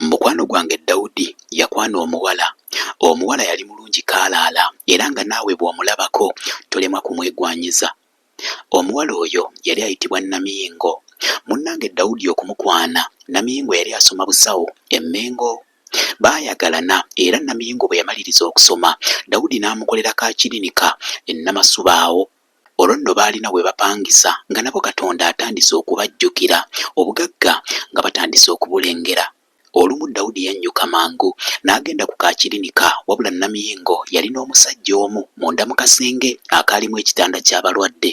Mukwano gwange Dawudi yakwana omuwala. Omuwala yali mulungi kaalaala era nga naawe bw'omulabako tolemwa kumwegwanyiza. Omuwala oyo yali ayitibwa Namiyingo. Munnange Dawudi okumukwana, Namiyingo yali asoma busawo e Mmengo. Baayagalana era Namiyingo bwe yamaliriza okusoma, Dawudi n'amukolera ka kirinika e Namasuba awo Olwo nno baalina we bapangisa nga nabo Katonda atandise okubajjukira, obugagga nga batandise okubulengera. Olumu Daudi yannyuka mangu n'agenda ku ka kirinika wabula Namiyingo yali n'omusajja omu munda mu kasenge akaalimu ekitanda ky'abalwadde.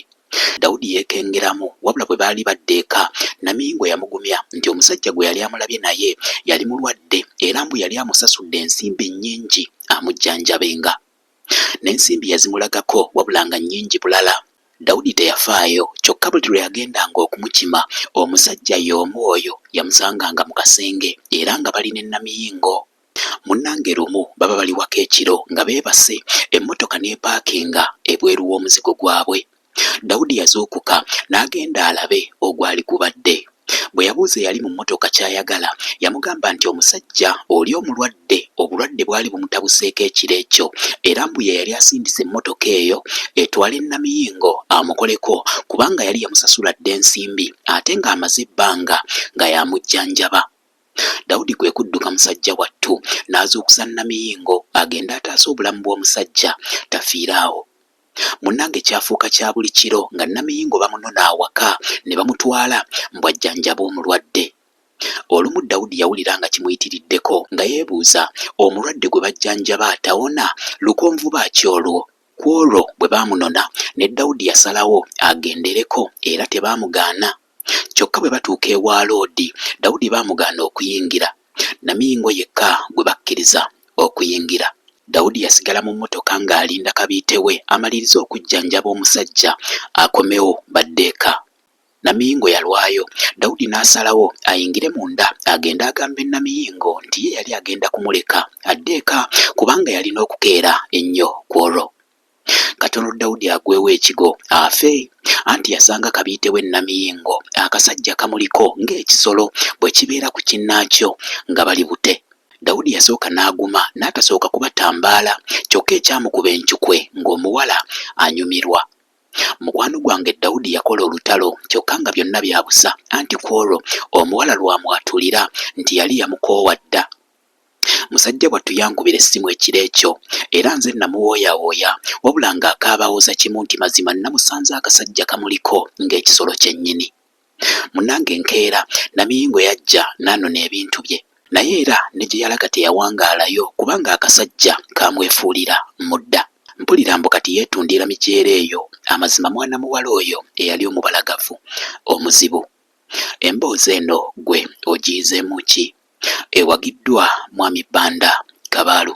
Daudi yeekengeramu wabula bwe baali badda eka, Namiyingo yamugumya nti omusajja gwe yali amulabye naye yali mulwadde era mbu yali amusasudde ensimbi nnyingi amujjanjabenga. N'ensimbi yazimulagako wabula nga nnyingi bulala. Dawudi teyafaayo, kyokka buli lwe yagendanga okumukima, omusajja y'omu oyo yamusanganga mu kasenge era nga bali ne Namiyingo. Munnange lumu baba bali waka ekiro nga beebase, emmotoka n'epaakinga ebweru w'omuzigo gwabwe. Dawudi yazuukuka n'agenda alabe ogwali gubadde. Bwe yabuuza eyali mu mmotoka ky'ayagala, yamugamba nti omusajja oli omulwadde obulwadde bwali bumutabuseeko ekiro ekyo era mbu ye yali asindise emmotoka eyo etwale Namiyingo amukoleko kubanga yali yamusasula dda ensimbi ate ng'amaze ebbanga nga y'amujjanjaba. Dawudi kwe kudduka musajja wattu n'azuukusa Namiyingo agende ataase obulamu bw'omusajja tafiire awo. Munnange kyafuuka kya buli kiro nga Namiyingo bamunona awaka ne bamutwala mbu ajjanjabe omulwadde. Olumu Daudi yawulira nga kimuyitiriddeko nga yeebuuza omulwadde gwe bajjanjaba tawona lukonvuba ki olwo? Kw'olwo bwe baamunona ne Daudi yasalawo agendereko era tebaamugaana. Kyokka bwe batuuka ewa Loodi, Dawudi bamugaana okuyingira. Namingo yekka gwe bakkiriza okuyingira. Dawudi yasigala mu mmotoka ng'alinda kabiite we amalirize okujjanjaba omusajja akomewo badde eka. Namingo yalwayo, Dawudi n'asalawo ayingire munda agende agambe Namiyingo nti ye yali agenda kumuleka adde eka kubanga yalina okukeera ennyo kw'olwo. Katono Daudi agwewo ekigo afe anti yasanga kabiite we Namiyingo akasajja kamuliko ng'ekisolo bwe kibeera ku kinnaakyo nga bali bute. Daudi yasooka n'aguma n'atasooka kubatambaala kyokka ekyamukuba encukwe ng'omuwala anyumirwa. Mukwano gwange Daudi yakola olutalo kyokka nga byonna bya busa anti kw'olwo omuwala lwamwatulira nti yali yamukoowa dda. Musajja wattu yankubira essimu ekiro ekyo era nze namuwooyawooya wabula ng'akaaba awoza kimu nti mazima nnamusanze akasajja kamuliko ng'ekisolo kyennyini. Munnange enkeera Namiyingo yajja n'anona ebintu bye naye era ne gye yalaga teyawangaalayo kubanga akasajja kaamwefuulira mudda. Mpulira mbu kati yeetundiira migyera eyo. Amazima mwana muwala oyo eyali omubalagavu omuzibu. Emboozi eno ggwe ogiyizeemu ki? Ewagiddwa Mwami Banda Kabaalu.